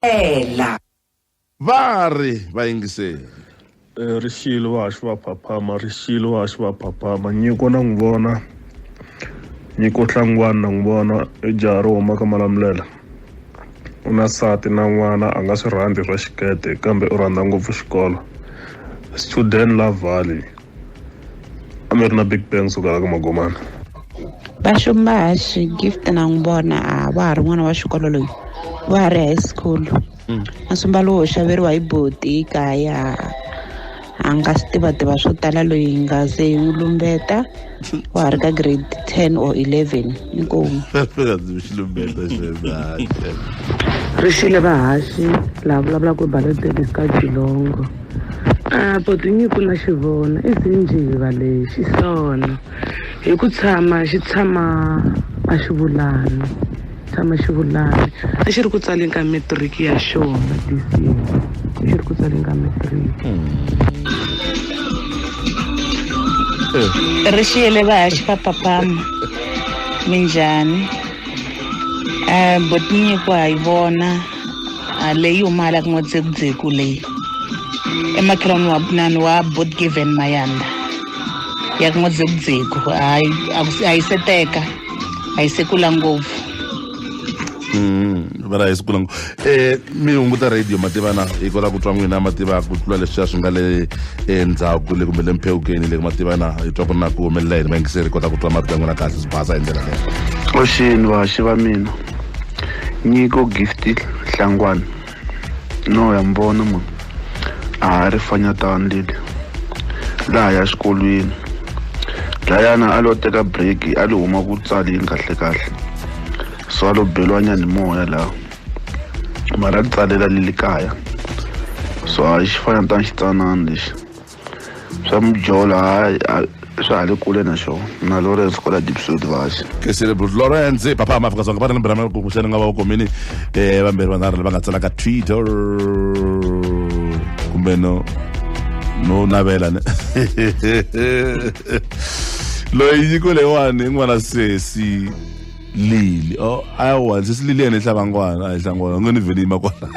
ela. Va ri, Va yingiseri. Eh, ri xilo va haxi va phaphama ri xilo va haxi va phaphama nyiko na n'wi vona nyiko hlangwani na n'wi vona i jaha ro huma ka malamulela u na sati na n'wana a nga swi rhandzi swa xikete kambe u rhandza ngopfu xikolo student la valley amir na big bang suka la ka magomana vaxumbaxi gift na n'wi vona a wa ha ri n'wana wa xikolo loyi wa ha ri high school masumba lowo xaveriwa hi boti kaya a nga swi tivativa swo tala loyi nga ze hi n'wi lumbeta wa ha ri ka grade ten or eleven inkomu ri xile vahaxi lava vulavulaka hi baloteli ka jilongo A Potinyiko na xi vona i xinjiva lexi sono hi ku tshama xi tshama a xi vulani tshama xi vulani a xi ri ku tsaleni ka matric ya xona this year a xi ri ku tsaleni ka matric ri xiyele va ha xipapapama minjhani um botinyiko ha yi vona Ah, leyi humala ku n'watsekutseko leyi emakhelwani wa punani wa botgiven mayanda ya ku n'watsekutseko hayi a ku- a yi se teka a yi se kula ngopfu Mm, va ra hi siku langu eh mi hunguta radio mativana hi kota ku twa n'wina mativa ku tlula leswiya swi nga le endzhaku le kumbe le mphewukeni le mativana hi twa ku ri na ku humelela yini vayingiseri hi kota ku twa marito ya n'wina kahle swi basa hi ndlela leyo oxini vaxi va mina Nyiko Gift Hlangwana no ya mi vona munhu a ha ri fanyatana leli laha ya xikolweni dlayana a lo teka break a lo huma ku tsaleni kahle kahle so a lo beliwa nyani moya laha mara a tsalela leli kaya so a xi fanyatana xitsanana lexi swa mijolo hayi swa ha le kule na xona na lawrence kwala dipsod vaxi ke celebrate lawrence papa hama afrika dzonga va ri ni mbirhamela ku kuhleni nga va vukomini um eh, vambirhi vanharhu lava nga tsalaka twitter kumbe no no navela ne loyi nyiko leyiwani i n'wana sesi lili o oh, awa ndzi silili yena ihlabangwana a ihlangwana ngoni vele yima kwala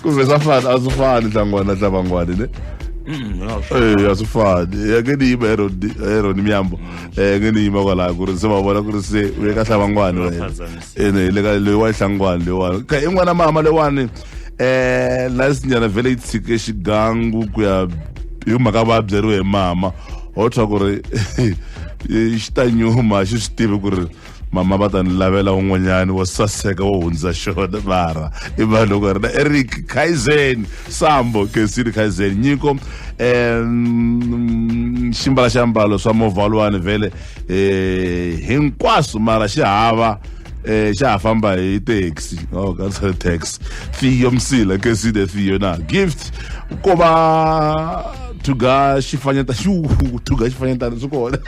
kumbe swa fana a swi fani hlangwana hlabangwana ne ee a swi fani ya nge ni yima eroni miyambo um nge ni yima kwalaya ku ri se va vona ku ri se u ye ka hlabangwana wena ene le ka leyi wa ihlangwana leyiwani ka i n'wana mama leyiwani eh la sinyana vele yi tshike xigangu ku ya hi mhaka va byeriwe hi mama ho twa ku ri xi ta nyuma xi swi tivi ku ri mama va ta ni lavela un'wanyani wo saseka wo hundza xona mara i vanhu loko ri na eric kaizen sambo kesini kaizen nyiko um ximbala xiambalo swa movalwani vhele um hinkwaswo mara xi hava eh xa ha famba hi taxi oh ka sa taxi fiyo msila ke si the fiyo na gift ko va thuga xifanyeta xu thuga xifanyetana swi kona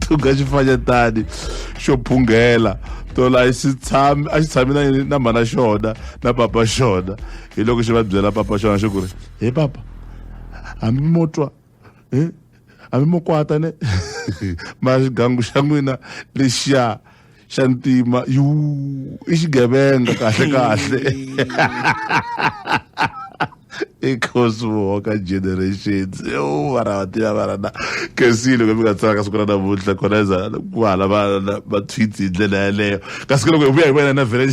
thuga xifanyetani xo phunghela tolo a xi tshami a xi tshami na na mhana xona na papa xona hi loko xi va byela papa xona xi ku ri he papa hambi mo twa eh? hambi mo kwata ne mara xigangu xa n'wina lexiya xa ntima yu i xigevenga kahle kahle i cosmo ka generations u vana va tiva vana na kasi loko mi nga tsaka siku ra namuntlha kona za ku hala va va tweets hi ndlela yaleyo kasi loko hi vuya hi vona na vhele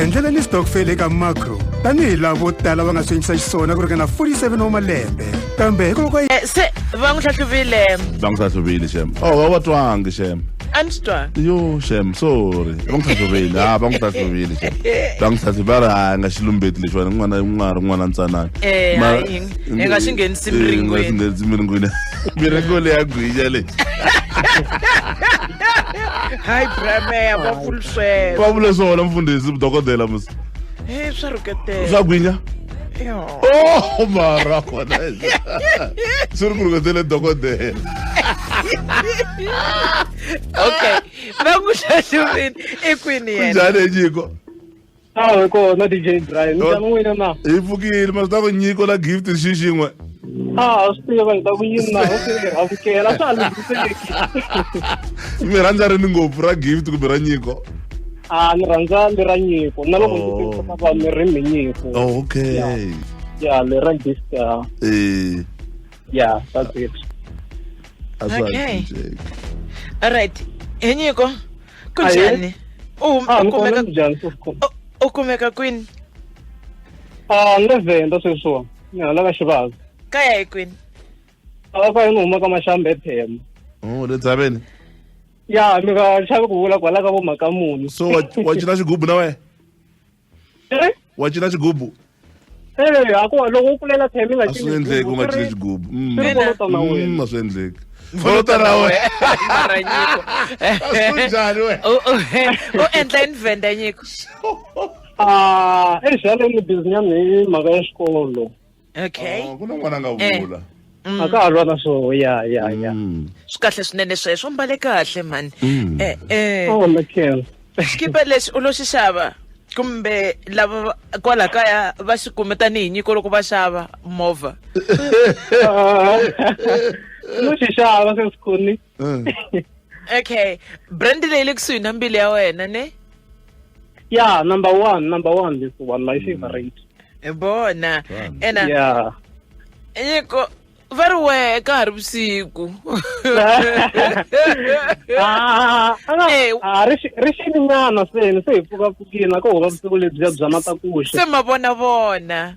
endlela ni stokfele eka macro tanihi lavo tala va nga swi endlisa xiswona ku ringana 47 wa malembe kambe hikokwalaho ka Eh, se va n'wi hlahluvile va n'wi hlahluvile xem o wa wa twangi xem a ni swi twanga yo xem sorry va n'wi hlahluvile ha va n'wi hlahluvile xem va n'wi hlahluvile va ri hayi nga xilumbeti lexiwani n'wana i n'wana ri n'wana ntsanana Eh, Ma- hayi, hi nga xi nghenisi Eh, hi nga xi miringweni. nghenisi miringweni miringo leyi ya gwinya leyi hayi brameya va pfuluswela va vule swona mfundhisi dokodela musi Eh, swa rhuketela swa gwinya Oh, mara khona swi ri ku rhuketele dokodela okay va n'wi hlahluvini i kwini yena njhani enyiko awe kona dj brian njhani n'wina na hi pfukile ma swi ta ku nyiko la gift xi xin'we a swi tiva hi ta ku yini na u swi amukela swa lunghiseki mi rhandza rini ngopfu ra gift kumbe ra nyiko a ni rhandza le ra nyiko na loko ndzi Oh. tirhisa va mi ri mi nyiko oh, okay ya le ra gift ah, Eh, ya that's it a swa ha Okay. cinceki. alright he nyiko ku Ahe. njhani u hum- a u ni kona kumeka ni njhani sweswi u- u kumeka kwini a ni le venda sweswiwa ni hala ka xivava kaya hi kwini a ka ni huma ka maxambe ephema oh le dzaveni ya mi nga xavi ku vula kwala ka vo mhaka muni so wa wa cina xigubu na wena Eh? wa cina xigubu Eh, hakuva loko u kulela phema i nga a swi cini endleki u nga cini xigubu Mm. Swi ri kolota na wena. Mm, a swi endleki kolota na wena mara nyiko a swi njhani wena U- u- u endla invenda nyiko Ah, eh, exaleni ni busy nyana hi mhaka ya xikolo okay Ah, ku na n'wana a nga Eh. vula a ka ha lwa na swoho ya ya ya Mm. swi kahle swinene sweswo mbale kahle mhani Mm. eh, eh. oh lekhela xikipa lexi u lo xi xava kumbe lava va- kwala kaya va xi kume tanihi nyiko loko va xava movha no xi xava se sikhoni Mm. okay brand leyi le kusuhi na mbilu ya wena ne ya number one number one this one my favorite hi bona Fun. ena ya nyiko va ri wehe ka ha ri vusiku Ah, ah, Eh. ah, ri xi- ri xininyana seni se hi pfukapfukini a ko hova vusiku lebyiya bya matakuxe se mavonavona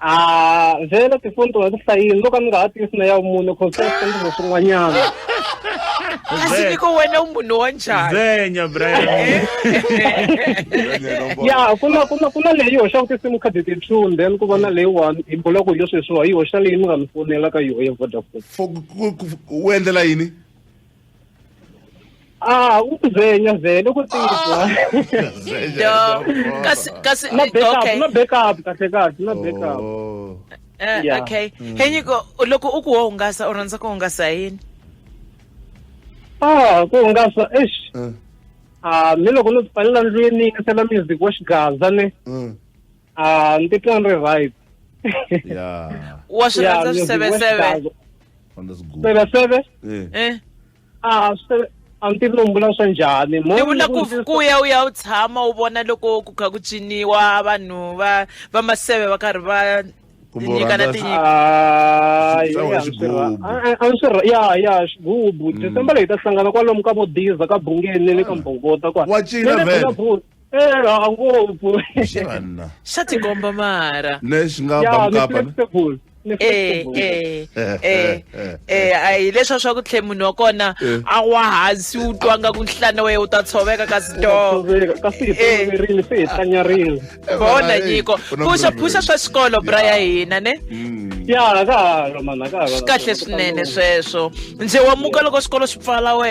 a ah, vhele tifoni tona ti hlayini loko a ni nga ha tisi na ya vumune cause swi ta endla swin'wanyana kasi niko wena u munhu wa njhani zenya brian ya ku na ku na ku na leyi hoxaka tinsimu card ti two and then ku va na leyiwani hi bula ku hi leswi hi swiwa yi hoxa leyi mi nga mi fonela ka yoho ya vodafone u endlela yini Ah, ukuzenya vele ukutsizwa. Dog. Kasi kasi Na backup, okay. na backup kahle kahle, na backup. Oh. Eh, Yeah. okay. Henyiko loko u ku wo hungasa u rhandza ku hungasa hi yini? Ah, ku hungasa eish. Mm. Ah, mi loko no tipalela ndlwini ni yingisela music wa xigaza ni. Mm. Ah, ni titwa ni ri right ya wa swi rhandza swiseveseve fanda swigubu seveseve Eh, Eh, a swi- a ni tivi lombula swa njhani Mo- ni vula ku ku- ku ya u ya u tshama u vona loko ku kha ku ciniwa vanhu va va maseve va karhi va Kumbe u nyikana rhandza- tinyiko Ah, Swi- yeah, swi- swi- swi- swi- a- a- a swi ra- ya ya xigubu december leyi ta hlangana kwalomu ka vodiza ka bungeni ni le ka mbhongota kwa Wa cina Ni le vele. Bulavu- Eh, ha ngopfu. xana xa tikomba mara lexi nga Yeah, ni bamukapa flexible. Ni eh flexible. eh eh eh, eh a hi leswa swa ku tlhe munhu wa kona Eh. a wa hansi u twa nga ku nhlana wehe u ta tshoveka kasi to Tshoveka, Kasi hi Eh. toloverile, se hi tlanyarile. bona nyiko phuxa phuxa swa xikolo bra ya hina ne Ya, ha ka ha lo, mhana, ha ka ha lo. swi kahle swinene sweswo ndzi wa muka loko xikolo xi pfala we